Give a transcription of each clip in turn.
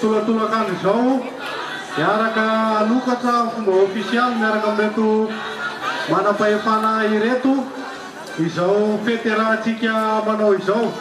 Tolatolan-kandro izao, hiaraka hanokatra amin'ny fomba ofisialy miaraka amin'ireto manam-pahefana ireto izao fety iarahantsika manao izao.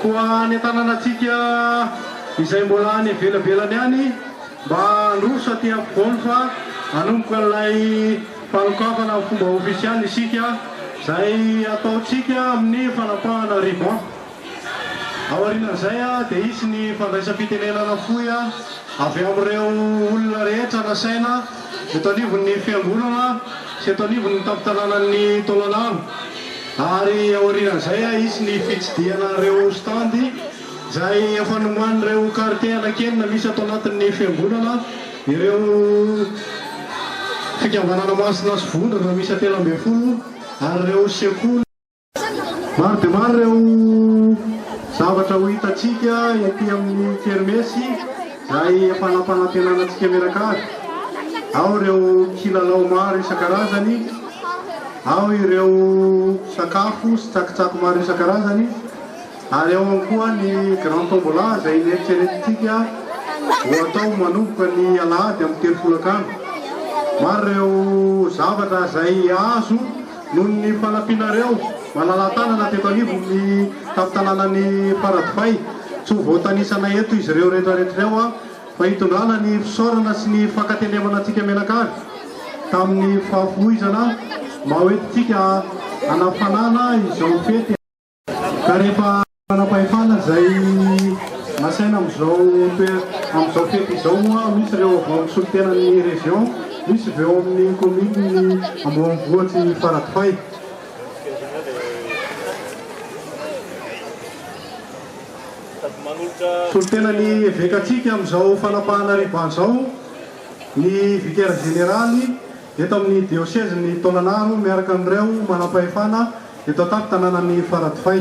Koa any an-tanànantsika izay mbola any ivelabelany any mba handroso aty ampovoany fa hanomboka an'ilay fanokafana amin'ny fomba ofisialy isika izay ataontsika amin'ny fanapahana ruban. Aorian'izay dia hisy ny fandraisam-pitenenana fohy avy amin'ireo olona rehetra nasaina eto anivon'ny Fiangonana sy eto anivon'ny tampon-tanànan'i Taolagnaro ary aorian'izay hisy ny fitsidihana ireo stand izay efa nomanin'ireo kartie anankenina misy ato anatin'ny Fiangonana ireo Fikambanana Masina sy Vondrona miisa telo ambin'ny folo ary ireo sekoly Maro dia maro ireo zavatra ho hitantsika ety amin'ny kermesy izay efa nampanantenana antsika mianakavy. Ao ireo kilalao maro isan-karazany, ao ireo sakafo sy tsakotsako maro isan-karazany, ary ao ihany koa ny grand tombola izay neritreretintsika ho atao manomboka ny alahady amin'ny telo folakandro. Maro ireo zavatra izay azo Noho ny fanampianareo malala-tanana teto anivon'ny tampon-tanànan'i Faradofay, tsy ho voatanisana eto izy ireo retraretra ireo fa hitondrana ny fisaorana sy ny fankatelemana antsika mianakavy tamin'ny fahafoizana mahoetintsika hanafanana izao fety Ka rehefa manam-pahefana izay nasaina amin'izao amin'izao fety izao moa misy ireo avy ao amin'ny solontenan'ny région, misy avy ao amin'ny commune ambonivohitry Faradofay. Solontenan'ny evekatsika amin'izao fanapahana riban izao ny vicaire général. eto amin'ny diosezin'i Tonanaro miaraka amin'ireo manampahefana eto an-tampon-tanànan'i Faradofay.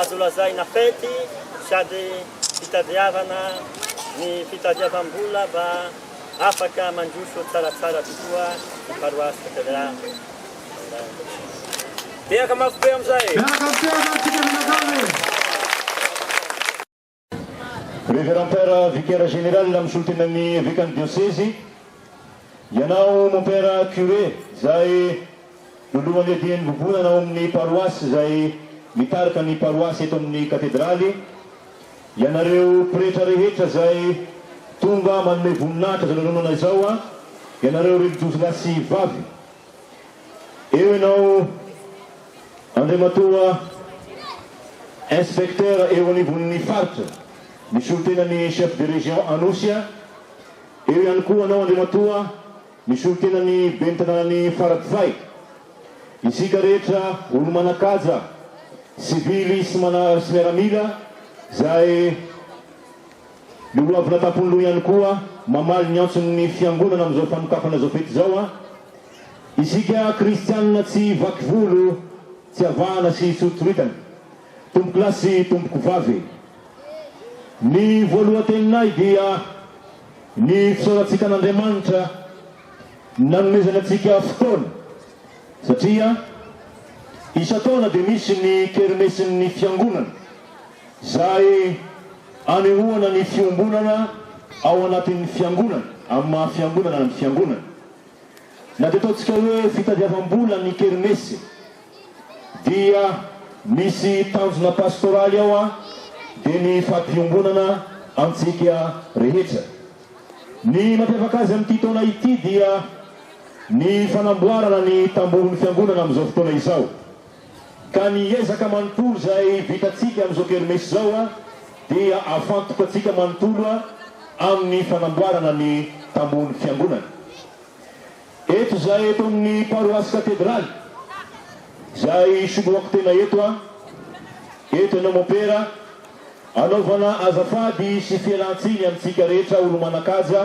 azo lazaina fety sady fitadiavana ny fitadiavam-bola mba afaka mandroso tsaratsara tokoa ny paroasy Betleha Andany. Tehaka mafy be amin'izay! Miaraka mitehaka isika mianakavy e! Révérend Père Vicaire Général Misolotenan'ny Evekan'ny Diosezy, Ianao Mon Père Curé izay Lolohan'ny Adihin'ny Vovonana ao amin'ny Paroasy izay mitarika ny Paroasy eto amin'ny Katedraly, Ianareo Pretra rehetra izay tonga manome voninahitra izao lanonana izao, Ianareo Relijiozy lahy sy vavy, Eo ianao. Andriamatoa Inspecteur eo anivon'ny Faritra, ny solontenan'ny Chef de Région Anosy a! Eo ihany koa anao Andriamatoa ny solontenan'ny Ben'ny Tanànan'i Faradofay. Isika rehetra olo-manan-kaja, sivily sy mana sy miaramila izay ny hoavina tampon'loha ihany koa mamaly ny antson'ny Fiangonana amin'izao fanokafana izao fety izao a! Isika kristianina tsy vaky volo tsy avahana sy soritsoritana. Tompokolahy sy tompokovavy e! Ny voalohan-teninay dia ny fisaorantsika an'Andriamanitra nanomezany antsika fotoana satria isan-taona dia misy ny kermesin'ny fiangonana izay anehoana ny fiombonana ao anatin'ny fiangonana amin'ny maha fiangonana ny fiangonana. Na dia ataontsika hoe fitadiavam-bola ny kermesy dia misy tanjona pastoraly ao an, dia ny fampiombonana antsika rehetra. Ny mampiavaka azy amin'ity taona ity dia ny fanamboarana ny tambohon'ny fiangonana amin'izao fotoana izao. Ka ny ezaka manontolo izay vitantsika amin'izao kermesy izao dia ahafantoka antsika manontolo amin'ny fanamboarana ny tambohon'ny Fiangonana. Eto izahay eto amin'ny Paroasy Katedraly, izay isoloako tena eto, eto ianao Mompera, anaovana azafady sy fialan-tsiny amintsika rehetra olo-manan-kaja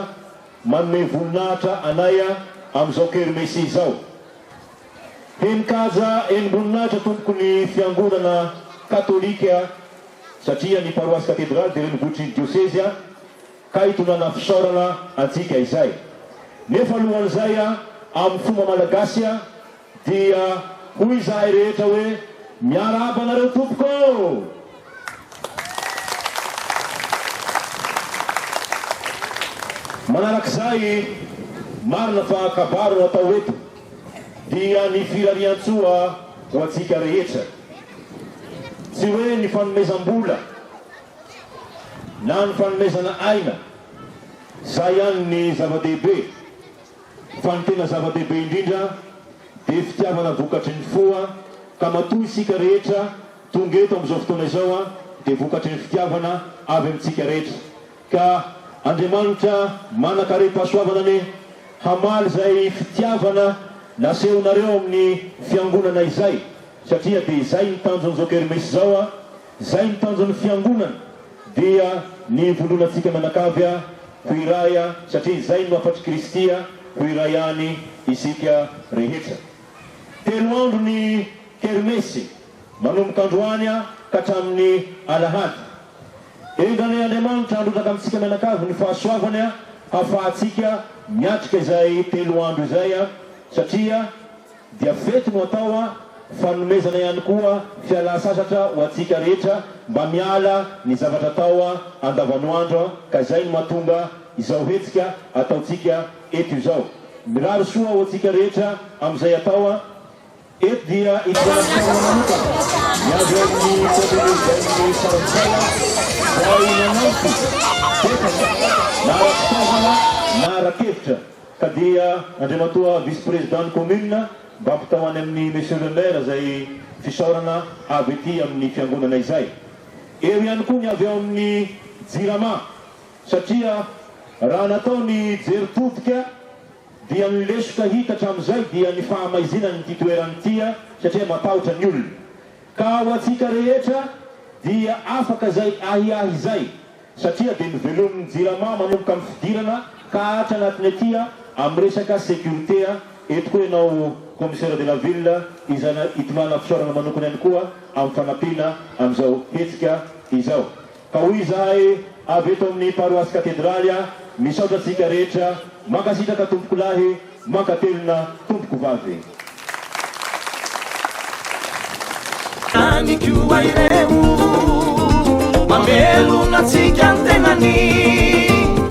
manome voninahitra anay amin'izao kermesy izao. Heninkaja enim-boninahitra tompoko ny fiangonana katolika satria ny paroasy katedraly dia renivohitry ny diosezia ka itondrana fisaorana antsika izay. Nefa alohan'izay amin'ny fomba malagasy dia hoy izahay rehetra hoe miarahaba anareo tompoko ô! Manarak'izay, marina fa kabary no atao eto. dia ny firarian-tsoa ho antsika rehetra. Tsy hoe ny fanomezam-bola na ny fanomezana aina, izay ihany ny zava-dehibe, fa ny tena zava-dehibe indrindra dia fitiavana vokatry ny fo ka matoa isika rehetra tonga eto amin'izao fotoana izao dia vokatry ny fitiavana avy amintsika rehetra. Ka Andriamanitra manan-karem-pahasoavana anie hamaly izay fitiavana nasehonareo amin'ny fiangonana izay, satria dia izay ny tanjon'izao kermesy izao a, izay ny tanjon'ny fiangonana dia ny hivondronantsika mianakavy a, ho iray a, satria izay no hafatr'i Kristy a, ho iray any isika rehetra. Telo andro ny kermesy. manomboka androany ka hatramin'ny alahady. Endranay Andriamanitra handrotsaka amintsika mianakavy ny fahasoavany hafahantsika miatrika izay telo andro izay satria dia fety no atao fanomezana ihany koa fialan-sasatra ho antsika rehetra mba miala ny zavatra atao andavanoandro ka izay no mahatonga izao hetsika ataontsika eto izao. Mirary soa ho antsika rehetra amin'izay atao. Eto dia ivelantsika manokana ny avy amin'ny Commune Urbaine-n'ny Farintsalha izay nanampy betsaka na ara-pitaovana na ara-kevitra ka dia Andriamatoa Vice Président-n'ny Commune mba ampitao any amin'ny Monsieur le Maire izay fisaorana avy ety amin'ny Fiangonana izay. Eo ihany koa ny avy ao amin'ny Jirama satria raha natao ny jery todika Dia ny lesoka hita hatramin'izay dia ny fahamaizinan' ity toerana ity satria matahotra ny olona. Ka ho antsika rehetra dia afaka izay ahiahy izay satria dia novelomin'ny Jirama manomboka amin'ny fidirana ka hatra anatiny aty amin'ny resaka sécurité. Eto koa ianao Commissaire de la Ville izay itondrana fisaorana manokana ihany koa amin'ny fanampiana amin'izao hetsika izao. Ka hoy izahay avy eto amin'ny Paroasy Katedraly a, misaotra antsika rehetra, mankasitraka Tompokolahy, mankatelina Tompokovavy. Any koa ireo mamelona antsika ny tenany.